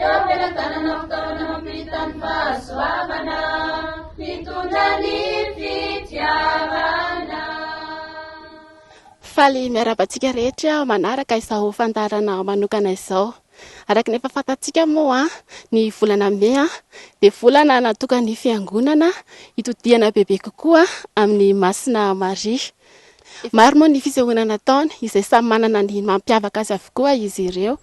Eo am-pelatanana fitaovana mampita ny fahasoavana, mitondra ny fitiavana. Faly miarahaba antsika rehetra manaraka izao fandaharana manokana izao. Araka ny efa fantatsika moa, ny volana Mey dia volana natokan'ny Fiangonana hitodihana bebe kokoa amin'i Masina Maria. Maro moa ny fisehoana nataony, izay samy manana ny mampiavaka azy avokoa izy ireo.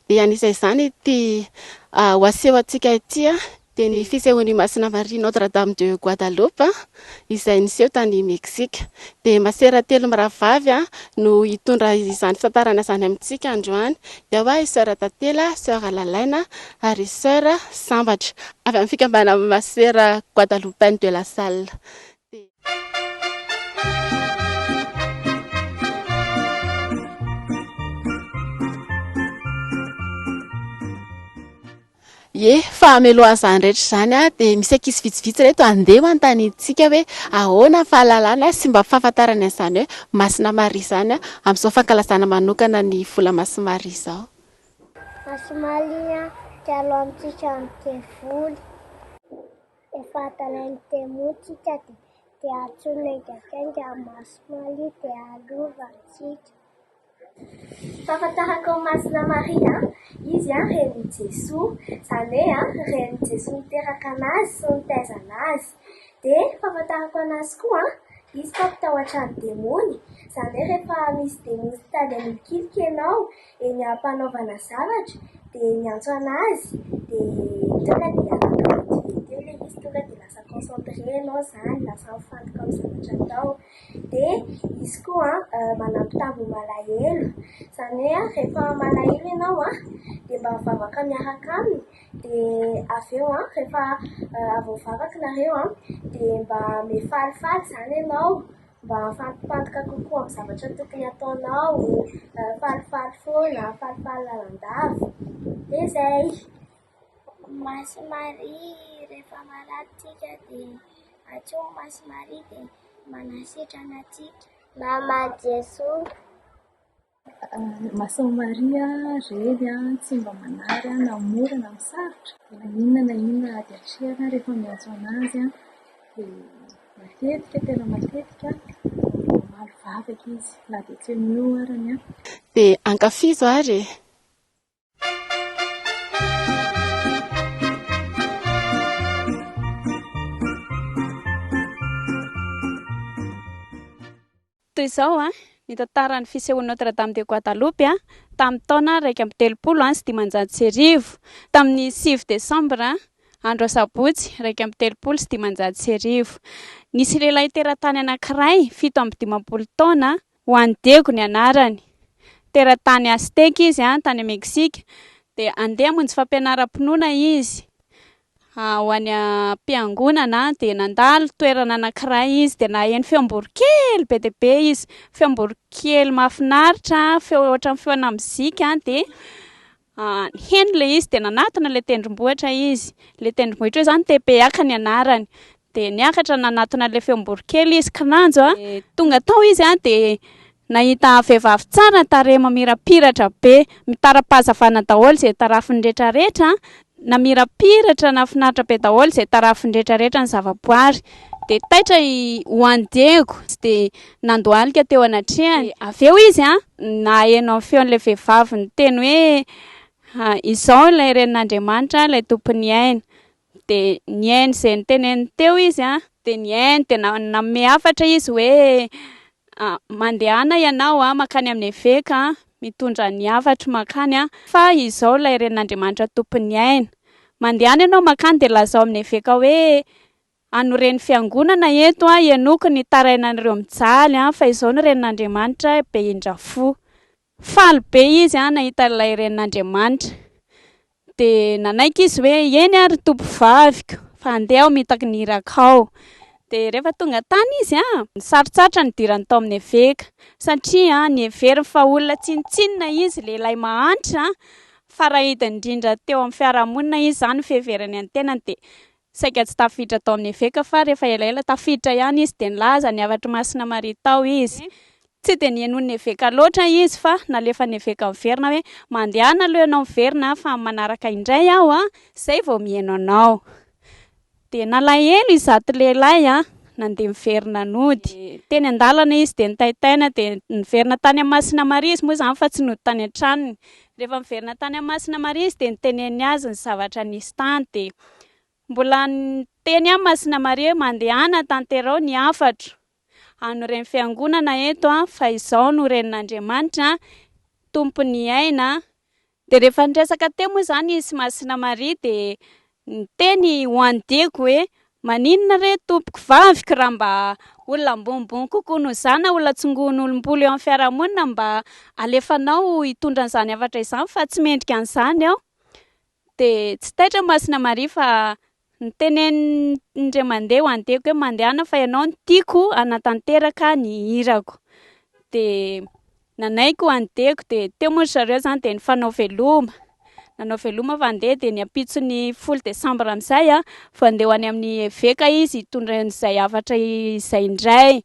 Dia anisan'izany ity ho asehontsika ity, dia ny fisehoan'i Masina Maria Notre Dame de Guadalupe, izay niseho tany Meksika. Dia masera telo mirahavavy no hitondra izany fitantarana izany amintsika androany. Dia ao i Soeur Tantela, Soeur Lalaina ary Soeur Sambatra, avy amin'ny fikambanan'ny Masera Guadalupaine de la Salle. Ie, fa hamelohany izany rehetra izany dia misy ankizy vitsivitsy ireto handeha manontaniantsika hoe ahoana ny fahalalana sy mba fahafantarany an'izany hoe Masina Maria izany amin'izao fankalazana manokana ny vola Masina Maria izao. Masina Maria dia alohantsika amin'ny devoly. Efa atalain'ny demoa tsika dia dia antsoina engakenga amin'ny masomamy dia alova antsika. Fahafantarako an'i Masina Maria, izy renin'i Jesoa, izany hoe renin'i Jesoa niteraka an'azy sy nitaiza an'azy. Dia fahafantarako an'azy koa, izy mpampitahotra ny demony, izany hoe rehefa misy demony sy tady amin'ilokiloko ianao dia ny ampanaovana zavatra dia miantso anazy dia tonga dia anaty teo ilay izy tonga dia lasa concentré ianao izany lasa mifantoka amin'ny zavatra atao dia izy koa manampy tambo malahelo izany hoe rehefa malahelo ianao a dia mba mivavaka miaraka aminy dia avy eo a rehefa avy mivavaka nareo a dia mba mifalifaly izany ianao mba hahafahampifantoka kokoa amin'ny zavatra tokony ataonao, falifaly foana, falifaly lalandava, dia izay. Masy Maria rehefa marary tsika dia antsoy Masy Maria dia manasitrana antsika. Mama Jesoa. Masao Maria reny an, tsy mba manary an, na mora na sarotra, na inona na inona ady atrehina rehefa miantso an'azy an, dia matetika tena matetika mamaly vavaka izy na dia tsy eo no eo arany an. Dia ankafizo ary e! Toy izao ny tantaran'ny fisehoan'i Notre Dame de Guadalupe tamin'ny taona iraika amby telopolo sy dimanjato sy arivo, tamin'ny sivy desambra, andro asabotsy, iraika amby telopolo sy dimanjato sy arivo. Nisy lehilahy teratany anankiray, fito amby dimampolo taona, Juan Diego ny anarany. Teratany Azteka izy, tany Meksika. Dia handeha hamonjy fampianaram-pinoana izy ho any am-piangonana. Dia nandalo toerana anankiray izy, dia naheno feom-boro kely be dia be izy. Feom-boro kely mahafinaritra, feo ohatran'ny feona mozika. Dia Heno ilay izy dia nanatona ilay tendrombohitra izy. Ilay tendrombohitra io izany Tepeaka ny anarany. Dia niakatra nanatona an'ilay feom-boronkely izy, kinanjo an! Dia tonga tao izy an, dia nahita vehivavy tsara tarehy mamirapiratra be. Mitara-pahazavana daholo izay tarafiny rehetrarehetra an! Namirapiratra, nahafinaritra be daholo izay tarafiny rehetrarehetra ny zavaboary. Dia taitra i Juan Diego, tsy dia nandohalika teo anatrehany. Dia avy eo izy naheno ny feon'ilay vehivavy niteny hoe, Izao ilay Renin'Andriamanitra, ilay Tompon'ny aina. Dia nihaino izay noteneniny teo izy, dia nihaino, dia nanome hafatra izy hoe, Mandehana ianao mankany amin'ny eveka, mitondra ny hafatro mankany, fa izao ilay Renin'Andriamanitra Tompon'ny aina. Mandehana ianao mankany dia lazao amin'ny eveka hoe, Hanoren'ny fiangonana eto aho henoko ny tarainan'ireo mijaly fa izao ny renin'Andriamanitra be indrafo. Faly be izy nahita ilay renin'Andriamanitra. Dia nanaiky izy hoe eny ary tompovaviko fa handeha aho mitaky ny iraka ao. Dia rehefa tonga tany izy nisarotsarotra ny hidirany tao amin'ny eveka satria niheveriny fa olona tsinontsinona izy, lehilahy mahantra, farahidiny indrindra teo amin'ny fiarahamonina izy izany ny fiheverany ny tenany dia Saika tsy tafiditra tao amin'ny eveka fa rehefa elaela tafiditra ihany izy dia nilaza ny hafatr'i Masina Maria tao izy. Tsy dia nihenoin'ny eveka loatra izy fa nalefan'ny eveka miverina hoe mandehana aloha ianao miverina fa manaraka indray aho an! izay vao miheno anao. Dia nalahelo izato lehilahy an! nandeha miverina nody. Teny an-dalana izy dia nitaitaina dia niverina tany amin'i Masina Maria izy moa izany fa tsy nody tany an-tranony. Rehefa niverina tany amin'i Masina Maria izy dia niteneniny azy ny zavatra nisy tany dia. Mbola niteny ahy Masina Maria hoe mandehana tanterao ny hafatro. An'ny Ren'ny Fiangonana eto fa izaho no Renin'Andriamanitra, Tompon'ny aina. Dia rehefa niresaka teo moa izany izy sy Masina Maria dia niteny ho an'i Diego hoe maninona re tompoko vaviko raha mba olona ambonimbony kokoa noho izaho na olona tsingohin'olom-bolo eo amin'ny fiarahamonina mba alefanao hitondra an'izany hafatra izany fa tsy mendrika an'izany aho. Dia tsy taitra Masina Maria fa nitenenin'Indray mandeha ho an'i Diego hoe mandehana fa ianao no tiako hanatanteraka ny hirako. Dia nanaiky ho an'i Diego dia teo moa ry zareo izany dia nifanao veloma. Nanao veloma fa handeha dia ny ampitson'ny folo desambra amin'izay vao handeha ho any amin'ny eveka izy hitondra an'izay hafatra izay indray.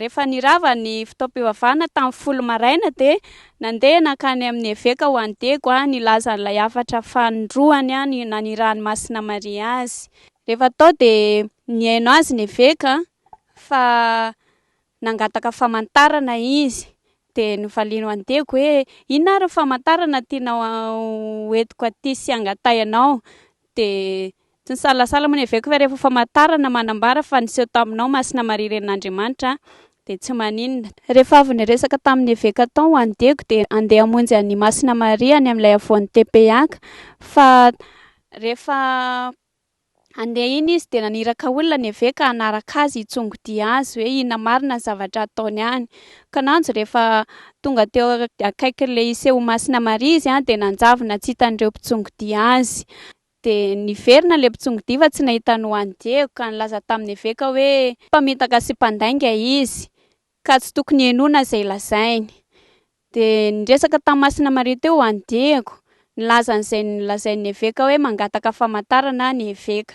Rehefa nirava ny fotoam-pivavahana tamin'ny folo maraina dia nandeha nankany amin'ny eveka ho an'i Diego nilaza an'ilay hafatra fanindroany nanirahan'i Masina Maria azy. Rehefa tao dia nihaino azy ny eveka fa nangataka famantarana izy dia novaliany ho an'i Diego hoe inona ary ny famantarana tianao ho entiko aty sy hangatahy anao dia Tsy nisalasala moa ny eveko fa rehefa famantarana manambara fa niseho taminao Masina Maria Renin'Andriamanitra dia tsy maninona. Rehefa avy niresaka tamin'ny eveka tao ho an'i Diego dia handeha hamonjy an'i Masina Maria any amin'ilay havoan'ny Tepeyac fa rehefa handeha iny izy dia naniraka olona ny eveka hanaraka azy hitsongodia azy hoe inona marina ny zavatra hataony any. Kananjo rehefa tonga teo akaikin'ilay hiseho ho Masina Maria izy dia nanjavona tsy hitan'ireo mpitsongodia azy. Dia niverina ilay mpitsongo-diva tsy nahita an'i Juan Diego, ka nilaza tamin'ny eveka hoe mpamitaka sy mpandainga izy, ka tsy tokony henoina izay lazainy. Dia niresaka tamin'i Masina Maria teo Juan Diego, nilaza an'izay nolazain'ny eveka hoe mangataka famantarana ny eveka.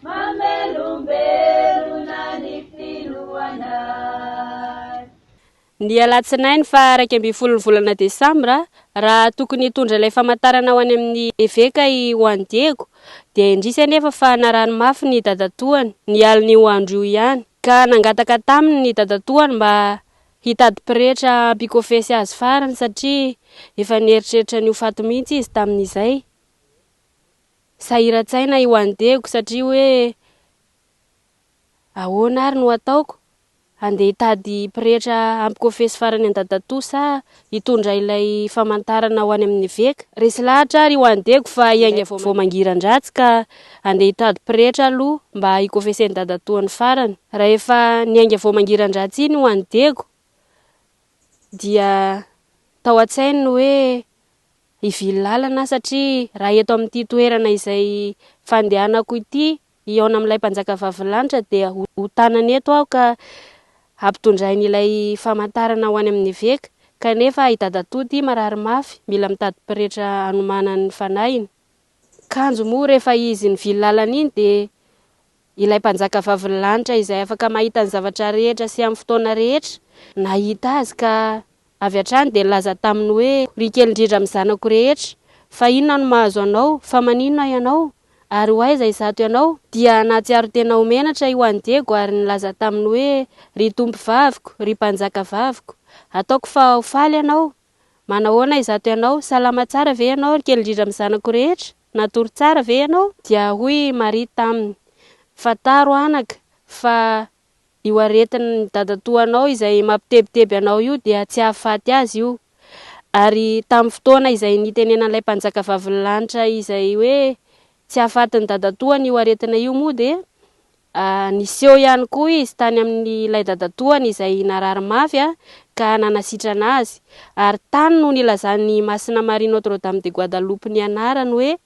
Mamelombelona ny filohanay. Ny alatsinainy faha iraika ambin'ny folo ny volana desambra, raha tokony hitondra ilay famantarana ho any amin'ny eveka i Juan Diego, dia indrisy anefa fa narary mafy ny dadatoany, ny alin'io andro io ihany, ka nangataka taminy ny dadatoany mba hitady pretra hampikofesy azy farany, satria efa nieritreritra ny ho faty mihitsy izy tamin'izay. Sahiran-tsaina i Wan Dego satria hoe ahoana ary no ataoko? Handeha hitady pretra hampikofesy farany an-dadatoa sa hitondra ilay famantarana ho any amin'ny eveka? Resy lahatra ary i Wan Dego fa hiainga vao mangiran-dratsy ka handeha hitady pretra aloha mba hikofesen'i dadatoa ny farany. Rahefa niainga vao mangiran-dratsy iny i Wan Dego dia tao an-tsainy ny hoe. Hivily lalana aho satria raha eto amin'ity toerana izay fandehanako ity hihaona amin'ilay Mpanjakavavy Lanitra dia ho tanana eto aho ka hampitondrainy ilay famantarana ho any amin'ny eveka kanefa i dadatoa ity marary mafy mila mitady pretra hanomanany ny fanahiny. Kanjo moa rehefa izy nivily lalana iny dia Ilay Mpanjaka Vavin'ny Lanitra izay afaka mahita ny zavatra rehetra sy amin'ny fotoana rehetra, nahita azy ka avy hatrany dia nilaza taminy hoe, Ry kely indrindra amin'ny zanako rehetra, fa inona no mahazo anao? Fa maninona ianao? Ary ho aiza izato ianao? Dia nahatsiaro tena ho menatra io an'i Diego ary nilaza taminy hoe, Ry Tompovaviko, ry Mpanjakavaviko, ataoko fa ho faly ianao. Manahoana izato ianao? Salama tsara ve ianao, ry kely indrindra amin'ny zanako rehetra? Nadoro tsara ve ianao? Dia hoy i Maria taminy, Fantaro, anaka, fa io aretin'ny dadatoanao izay mampitebiteby anao io dia tsy hahafaty azy io. Ary tamin'ny fotoana izay nitenenan'ilay Mpanjakavavin'ny lanitra izay hoe tsy hahafaty ny dadatoany io aretina io moa dia Niseho ihany koa izy tany amin'ilay dadatoany izay narary mafy ka nanasitrana azy, ary tany no nilazan'i Masina Maria Notre Dame de Guadalupe ny anarany hoe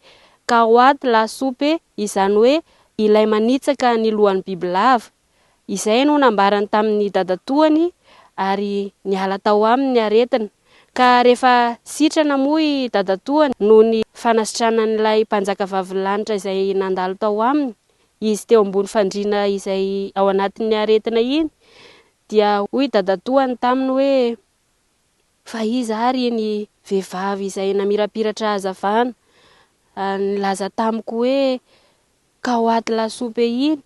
Cahuatl a Supe, izany hoe Ilay Manitsaka ny Lohan'ny Bibilava. Izay no nambarany tamin'ny dadatoany ary niala tao aminy ny aretina, ka rehefa sitrana moa i dadatoany noho ny fanasitranan'ilay Mpanjakavavin'ny Lanitra izay nandalo tao aminy, Izy teo ambony fandriana izay ao anatin'ny aretina iny dia hoy dadatoany taminy hoe, Fa iza ary iny vehivavy izay namirapiratra hazavana ary nilaza tamiko hoe, Ka ho ato lasopy iny?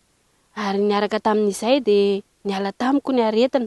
Ary niaraka tamin'izay dia niala tamiko ny aretina.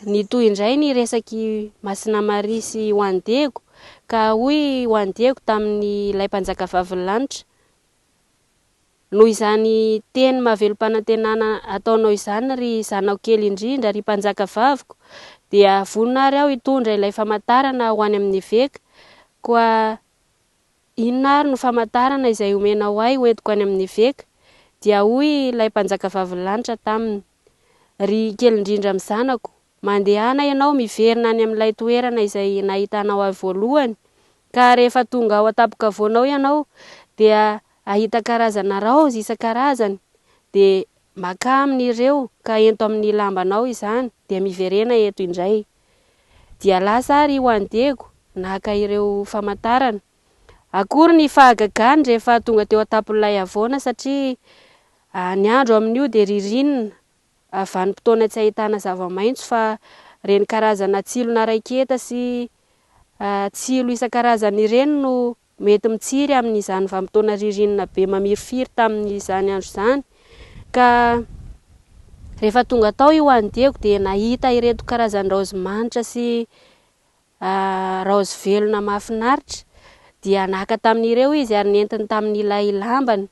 Nitohy indray ny resak'i Masina Maria sy Juan Diego ka hoy Juan Diego tamin'ilay Mpanjakavavin'ny lanitra, Noho izany teny mahavelom-panantenana ataonao izany ry zanako kely indrindra, ry Mpanjakavaviko, dia vonona ary aho hitondra ilay famantarana ho any amin'ny eveka, koa inona ary no famantarana izay omenao ahy hoentiko any amin'ny eveka? Dia hoy ilay Mpanjakavavin'ny lanitra taminy. Ry kely indrindra amin'ny zanako, mandehana ianao miverina any amin'ilay toerana izay nahitanao ahy voalohany, ka rehefa tonga ao an-tampon-kavoana ao ianao, dia hahita karazana raozy isan-karazany, dia makà amin'ireo ka ento amin'ny lambanao izany, dia miverena eto indray. Dia lasa ary ho an'i Diego, naka ireo famantarana. Akory ny fahagagany rehefa tonga teo an-tampon'ilay havoana satria ny andro amin'io dia ririnina, vanim-potoana tsy ahitana zava-maitso fa ireny karazana tsilona raiketa sy tsilo isan-karazany ireny no mety mitsiry amin'izany vanim-potoana ririnina be mamirifiry tamin'izany andro izany ka rehefa tonga tao i Hoany Diego dia nahita ireto karazan-draozy manitra sy A Raozy velona mahafinaritra dia naka tamin'ireo izy ary nentiny tamin'ilay lambany.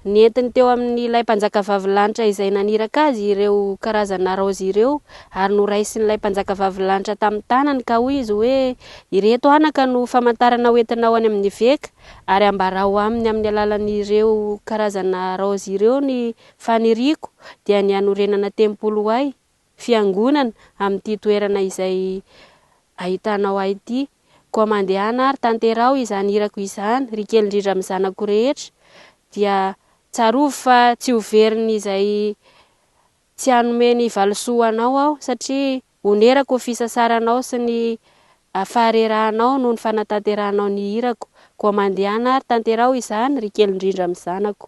Nentiny teo amin'ilay mpanjakavavy lanitra izay naniraka azy ireo karazana raozy ireo ary noraisin'ilay mpanjakavavy lanitra tamin'ny tanany ka hoy izy hoe, Ireto anaka no famantarana hoentinao any amin'ny eveka ary ambarao aminy amin'ny alalan'ireo karazana raozy ireo ny faniriako dia ny hanorenana tempoly ho ahy. Fiangonana, amin'ity toerana izay ahitanao ahy ity. Koa mandehana ary tanteraho izany hirako izany, ry kely indrindra amin'ny zanako rehetra, dia tsarovy fa tsy ho verin'izay tsy hanome ny valisoa anao aho, satria onerako ny fisasaranao sy ny faharerahanao noho ny fanatanterahanao ny hirako. Koa mandehana ary tanteraho izany, ry kely indrindra amin'ny zanako.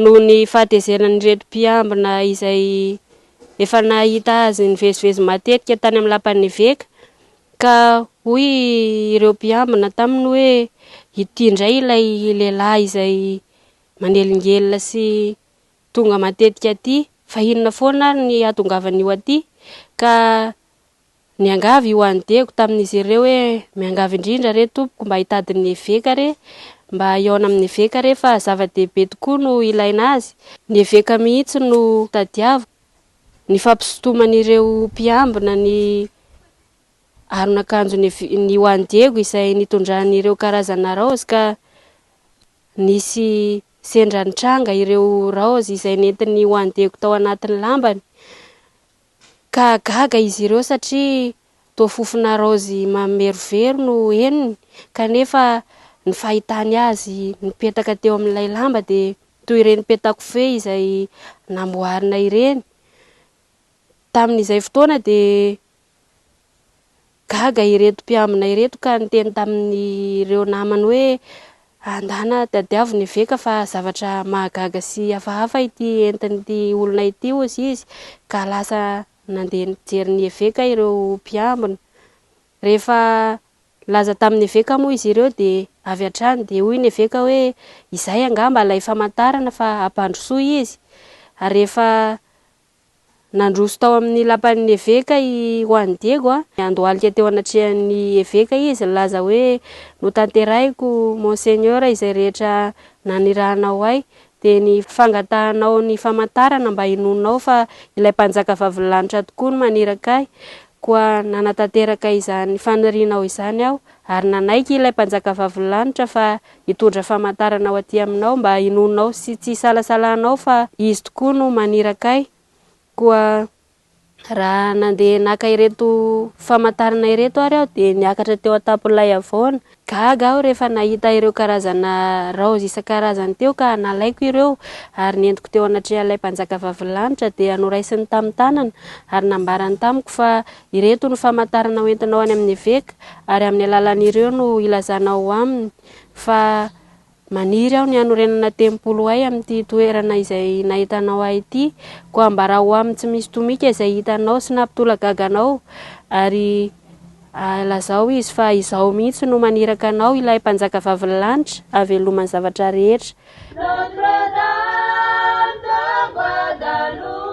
Noho ny fahatezeran'ireto mpiambina izay efa nahita azy nivezivezy matetika tany amin'ny lapan'ny eveka, ka hoy ireo mpiambina taminy hoe, Ity indray ilay lehilahy izay manelingelina sy tonga matetika aty, fa inona foana ary ny hahatongavan'io aty? Ka Niangavy i Juan Diego tamin'izy ireo hoe, Miangavy indrindra re, tompoko, mba hitady ny eveka re, mba hihaona amin'ny eveka re, fa zava-dehibe tokoa no ilaina azy. Ny eveka mihitsy no tadiaviko. Ny fampisintoman'ireo mpiambina ny aron'akanjon'i Juan Diego izay nitondrany ireo karazana raozy ka nisy sendra nitranga ireo raozy izay nentin'i Juan Diego tao anatin'ny lambany Ka gaga izy ireo satria toa fofona raozy mamerovero no henony, kanefa ny fahitany azy nipetaka teo amin'ilay lamba dia toy ireny peta-kofehy izay namboarina ireny. Tamin'izay fotoana dia Gaga ireto mpiambina ireto ka niteny tamin'ireo namany hoe, Andana tadiavo ny eveka fa zavatra mahagaga sy hafahafa ity entin'ity olona ity, hozy izy. Ka lasa nandeha nijery ny eveka ireo mpiambina. Rehefa nilaza tamin'ny eveka moa izy ireo dia avy hatrany dia hoy ny eveka hoe, Izay angamba ilay famantarana fa hampandrosoa izy. Ary rehefa Nandroso tao amin'ny lapan'ny eveka i Juan Diego. Niandohalika teo anatrehan'ny eveka izy, nilaza hoe, Notanterahiko, Monseigneur, izay rehetra nanirahanao ahy, dia ny fangatahanao ny famantarana mba hinoanao fa ilay Mpanjaka Vavilanitra tokoa no maniraka ahy. Koa nanatanteraka izany fanirianao izany aho, ary nanaiky ilay Mpanjaka Vavilanitra fa Hitondra famantarana ho aty aminao mba hinoanao sy tsy hisalasalanao fa Izy tokoa no maniraka ahy. Koa raha nandeha naka ireto famantarana ireto ary aho dia niakatra teo an-tampon'ilay havoana. Gaga aho rehefa nahita ireo karazana raozy isan-karazany teo ka nalaiko ireo ary nentiko teo anatrehan'ilay Mpanjaka Vavilanitra dia noraisiny tamin'ny tanana ary nambarany tamiko fa Ireto ny famantarana ho entinao any amin'ny eveka, ary amin'ny alalan'ireo no hilazanao aminy fa maniry aho ny hanorenana tempoly ho ahy amin'ity toerana izay nahitanao ahy ity, koa ambarao aminy tsy misy tomika izay hitanao sy nampitolagaga anao, ary lazao izy fa izaho mihitsy no maniraka anao, ilay Mpanjakavavin'ny lanitra, haveloma ny zavatra rehetra. Notre Dame de Guadeloupe,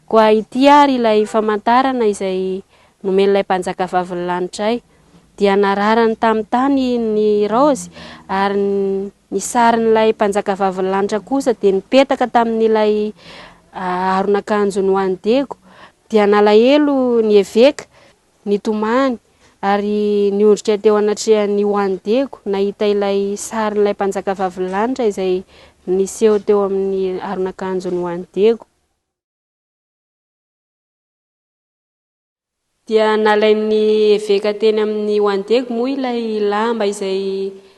Koa ity àry ilay famantarana izay nomen'ilay Mpanjakavavin'ny lanitra ahy, dia nararany tamin'ny tany ny raozy, ary ny sarin'ilay Mpanjakavavin'ny lanitra kosa dia nipetaka tamin'ilay aron'akanjony ho an'i Diego. Dia nalahelo ny eveka Nitomany ary niondrika teo anatrehan'i Juan Diego nahita ilay sarin'ilay mpanjaka vavin'ny lanitra izay niseho teo amin'ny aron'akanjon'i Juan Diego. Dia nalain'ny eveka teny amin'i Juan Diego moa ilay lamba izay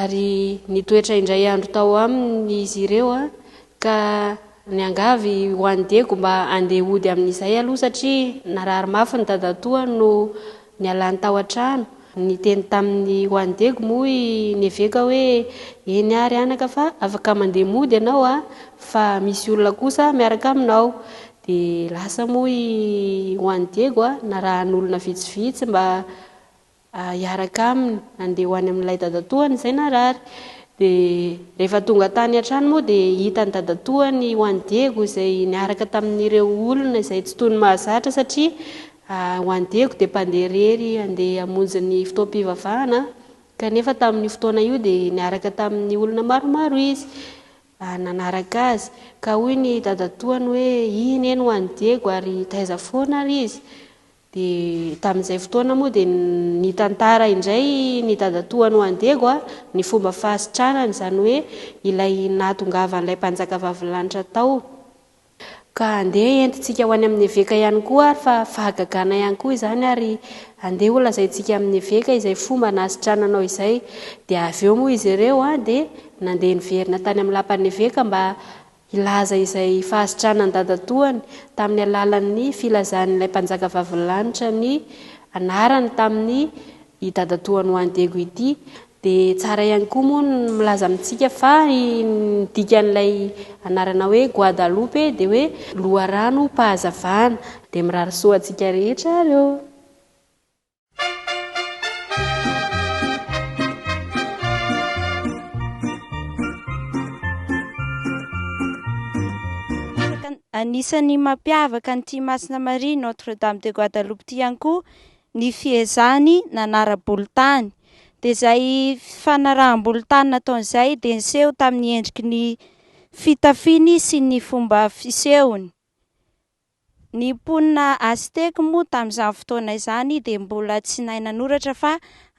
Ary nitoetra indray andro tao aminy izy ireo, ka niangavy ho an'i Diego mba handeha hody amin'izay aloha satria narary mafy ny dadatoany no nialany tao an-trano. Niteny taminy ho an'i Diego moa i Neveka hoe, Eny àry anaka fa afaka mandeha mody ianao fa misy olona kosa miaraka aminao. Dia lasa moa i ho an'i Diego narahan'olona vitsivitsy mba hiaraka aminy handeha ho any amin'ilay dadatoany izay narary. Dia rehefa tonga tany an-trano moa dia hitan'ny dadatoany ho an'i Diego izay niaraka tamin'ireo olona izay tsy toy ny mahazatra satria ho an'i Diego dia mpandeha irery handeha hamonjy ny fotoam-pivavahana kanefa tamin'io fotoana io dia niaraka tamin'ny olona maromaro izy nanaraka azy. Ka hoy ny dadatoany hoe, Iny eny ho an'i Diego ary taiza foana ary izy? Dia tamin'izay fotoana moa dia nitantara indray ny dadatoany ho an'i Diego ny fomba fahasitranany, izany hoe ilay nahatongavan'ilay Mpanjaka Vavin'ny Lanitra tao. Ka andeha entintsika ho any amin'ny eveka ihany koa ary fa fahagagana ihany koa izany ary andeha holazaintsika amin'ny eveka izay fomba nahasitrananao izay. Dia avy eo moa izy ireo dia nandeha niverina tany amin'ny lapan'ny eveka mba Hilaza izay fahasitranan'ny dadatoany tamin'ny alalan'ny filazan'ilay Mpanjaka Vavilanitra ny anarany tamin'ny i dadatoany ho any Daegu ity. Dia tsara ihany koa moa ny milaza amintsika fa ny dikan'ilay anarana hoe Guadalupe dia hoe loharanom-pahazavana. Dia mirary soa antsika rehetra ary ô! Anisan'ny mampiavaka an'ity Masina Maria Notre Dame de Guadaloupe ity ihany koa ny fiezahany nanara-bolo tany. Dia izay fanaraham-bolo tany nataony izay dia niseho tamin'ny endriky ny fitafiny sy ny fomba fisehony. Ny mponina Aztèque moa tamin'izany fotoana izany dia mbola tsy nahay nanoratra fa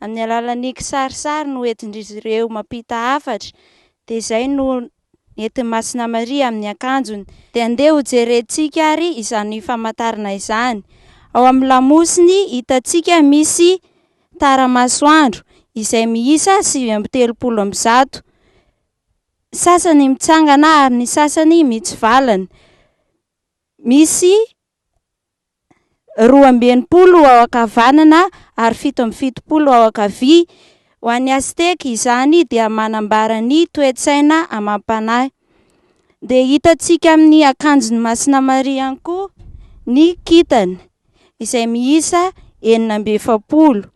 amin'ny alalan'ny kisarisary no entin-dry ireo mampita hafatra, dia izay no nentin'i Masina Maria amin'ny akanjony. Dia andeha ho jerentsika ary izany famantarana izany. Ao amin'ny lamosiny hitantsika misy tara-masoandro izay miisa sivy amby telopolo amby zato, sasany mitsangana ary ny sasany mitsivalana. Misy roa amby enimpolo ao ankavanana ary fito amby fitopolo ao ankavia. Ho an'ny Azteka, izany dia manambara ny toe-tsaina amam-panahy. Dia hitantsika amin'ny akanjon'i Masina Maria ihany koa ny kintana, izay miisa enina amby efapolo,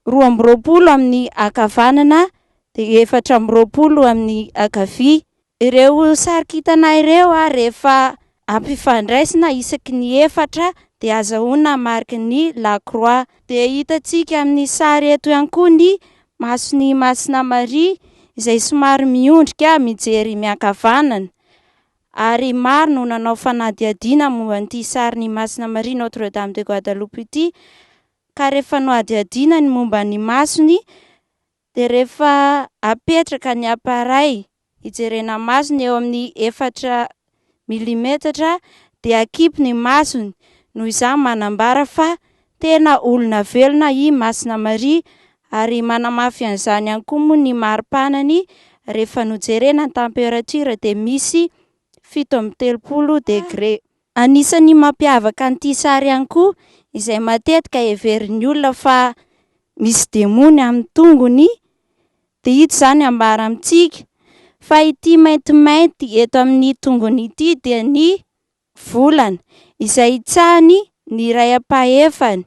roa amby roapolo amin'ny ankavanana dia efatra amby roapolo amin'ny ankavia. Ireo sary kintana ireo rehefa ampifandraisina isaky ny efatra dia azahoana mariky ny La Croix. Dia hitantsika amin'ny sary eto ihany koa ny mason'i Masina Maria izay somary miondrika mijery miankavanana. Ary maro no nanao fanadihadiana momba an'ity sarin'i Masina Maria Notre Dame de Guadaloupe ity ka rehefa nohadihadiana ny momba ny masony Dia rehefa apetraka ny appareil hijerena masony eo amin'ny efatra milimetatra dia akipy ny masony, noho izany manambara fa tena olona velona i Masina Maria ary manamafy an'izany ihany koa moa ny mari-panany rehefa nojerena ny temperature dia misy fito amby telopolo degré. Anisan'ny mampiavaka an'ity sary ihany koa izay matetika heverin'ny olona fa misy demony amin'ny tongony dia ito izany ambara amintsika fa ity maintimainty eto amin'ny tongony ity dia ny volana izay itsahany ny iray ampahefany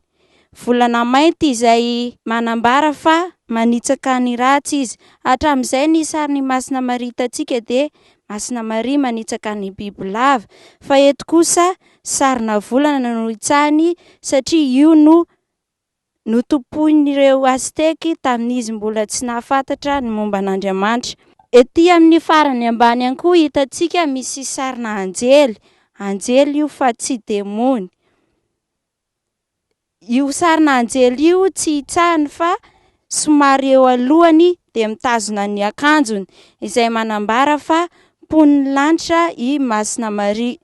volana mainty izay manambara fa manitsaka ny ratsy izy. Hatramin'izay ny sarin'i Masina Maria hitantsika dia Masina Maria manitsaka ny bibilava fa eto kosa sarina volana no hitsahiny satria io no notompoin'ireo Azteky tamin'izy mbola tsy nahafantatra ny momba an'Andriamanitra. Ety amin'ny farany ambany ihany koa hitantsika misy sarina anjely, anjely io fa tsy demony. Io sarina anjely io tsy hitsahiny fa somary eo alohany dia mitazona ny akanjony izay manambara fa mponin'ny lanitra i Masina Maria.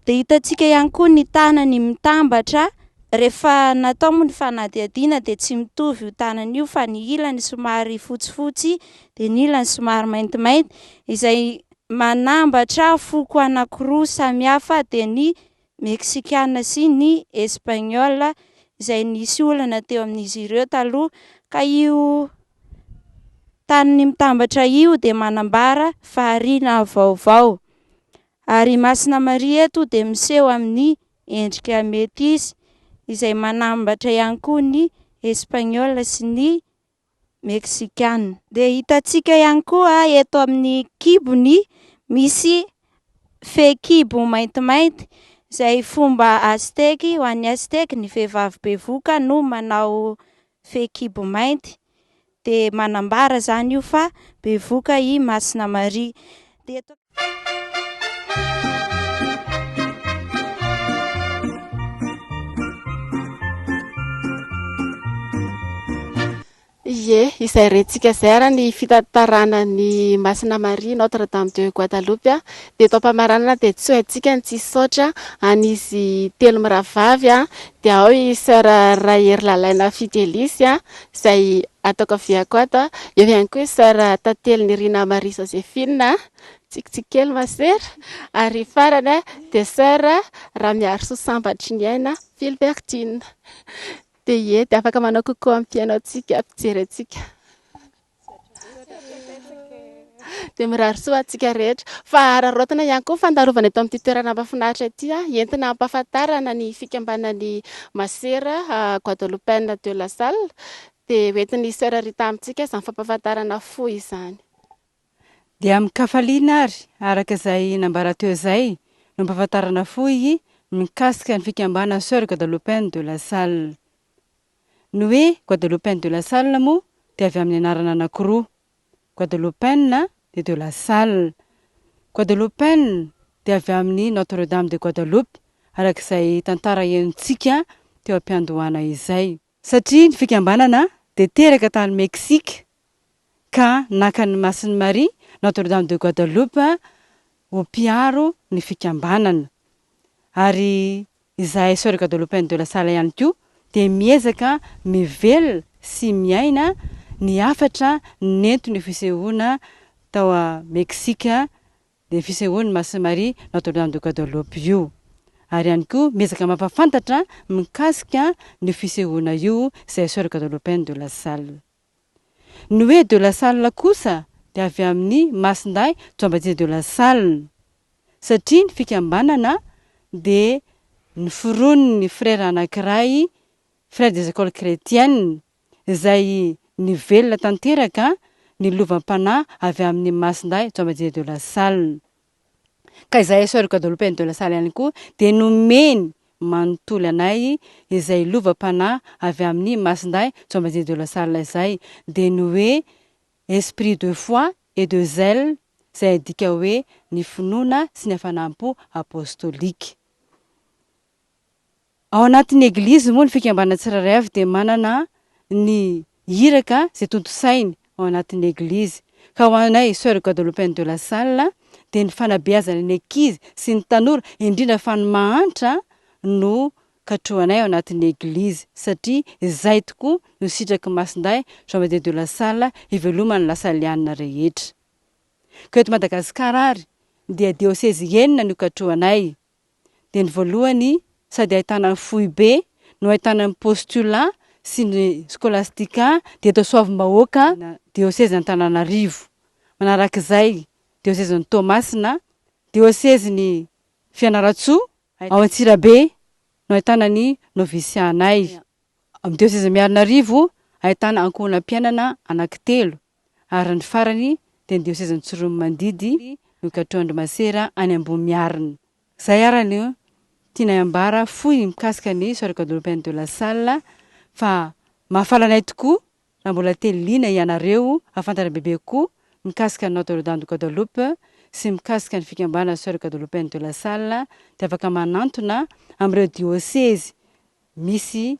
Dia hitantsika ihany koa ny tanany mitambatra rehefa natao moa ny fanadihadiana dia tsy mitovy io tanany io fa ny ilany somary fotsifotsy dia ny ilany somary maintimainty izay manambatra foko anankiroa samihafa dia ny Meksikana sy ny Espaniola izay nisy olana teo amin'izy ireo taloha ka io taniny mitambatra io dia manambara fahariana vaovao. Ary i Masina Maria eto dia miseho amin'ny endrika metisy izay manambatra ihany koa ny Espaniola sy ny Meksikana. Dia hitantsika ihany koa eto amin'ny kibony misy fehikibo maintimainty izay fomba Azteky, ho an'ny Azteky ny vehivavy bevoka no manao fehikibo mainty, dia manambara izany io fa bevoka i Masina Maria. Dia eto. Ie, izay rentsika izay ary ny fitantarana ny Masina Maria Notre Dame de Guadalupe dia eto am-pamaranana dia tsy ho haintsika ny tsy hisaotra an'izy telo mirahavavy dia ao i Soeur Rahery Lalaina Fidelisy izay ato ankaviako ato an. Eo ihany koa i soeur Tantely Nirina Marie Josephine, tsikitsiky kely ma soeur. Ary farany an, dia soeur Ramiarisoa Sambatriniaina Philbertine. Dia ie, dia afaka manao coucou ampianao antsika, ampijery antsika. dia mirary soa ho antsika rehetra. Fa araraotina ihany koa fandarovana eto amin'ity toerana mahafinaritra ity, ah, entina hampahafantarana ny fikambanan'ny Masera ah, Guadeloupeenne de la Salle. Dia hoentin'ny Sœur Rita amintsika izany fampahafantarana fohy izany. Dia amin-kafaliana ary, araka izay nambara teo izay, no ampahafantarana fohy mikasika ny fikambanan'ny Sœur Guadeloupeenne de la Salle. Ny hoe Guadeloupain de la Salle moa dia avy amin'ny anarana anankiroa, Guadeloupain dia de la Salle. Guadeloupain dia avy amin'ny Notre Dame de Guadeloupe, araka izay tantara henontsika teo am-piandohana izay. Satria ny fikambanana dia teraka tany Mexique ka naka ny Masin'i Maria, Notre-Dame de Guadeloupe, ho mpiaro ny fikambanana. Ary izahay Sœurs Guadeloupéennes de la Salle ihany koa dia miezaka mivelona sy miaina ny hafatra nentin'io fisehoana tao Meksika, dia fisehoan'i Masin'i Maria, Notre-Dame de Guadeloupe, io. Ary ihany koa miezaka mampahafantatra mikasika an'io fisehoana io izahay Sœurs Guadeloupéennes de la Salle. Ny hoe de la Salle kosa dia avy amin'ny masindahy Jean-Baptiste de la Salle, satria ny fikambanana dia noforonin'ny frera anankiray, Frères des Ecoles Chretiennes, izay nivelona tanteraka ny lovam-panahy avy amin'ny masindahy Jean-Baptiste de la Salle. Ka izahay Soeurs Guadeloupe and de la Salle ihany koa dia nomeny manontolo anay izay lovam-panahy avy amin'ny Masindahy Jean-Baptiste de la Salle izay, dia ny hoe Esprit de foi et de zèle izay adika hoe ny finoana sy ny hafanam-po apostolika. Ao anatin'ny Eglizy moa ny fikambanana tsirairay avy dia manana ny iraka izay tontosainy ao anatin'ny Eglizy. Ka ho anay Soeur Guadeloupaine de la Salle dia ny fanabeazana ny ankizy sy ny tanora indrindra fa ny mahantra no katrohanay ao anatin'ny Eglizy satria izay tokoa no sitraky Masindahy Jean Baptiste de la Salle hiveloman'ny Lasalianina rehetra. Ka eto Madagasikara ary dia Diosezy enina no ikatrohanay. dia ny voalohany sady ahitana ny foibe no ahitana ny postulat sy ny scolastica dia eto Soavimbahoaka diosezin'Antananarivo, manaraka izay diosezin'i Toamasina, diosezin'i Fianarantsoa, ao Antsirabe no ahitana ny novisianay, amin'ny diosezin'i Miarinarivo ahitana ankohonam-piainana anankitelo. ary ny farany dia ndeha ho sezan'ny tsoromimandidy nokatrohan-dry masera any Ambohimiarina. Izay ary no tianay ambara fohy mikasika ny Soirée Guadeloupe Inde de la Salle fa mahafaly anay tokoa raha mbola te liana hianareo hahafantatra bebe kokoa mikasika ny Notre Dame de Guadeloupe sy mikasika ny fikambanana Soirée Guadeloupe Inde de la Salle dia afaka manantona amin'ireo diosezy misy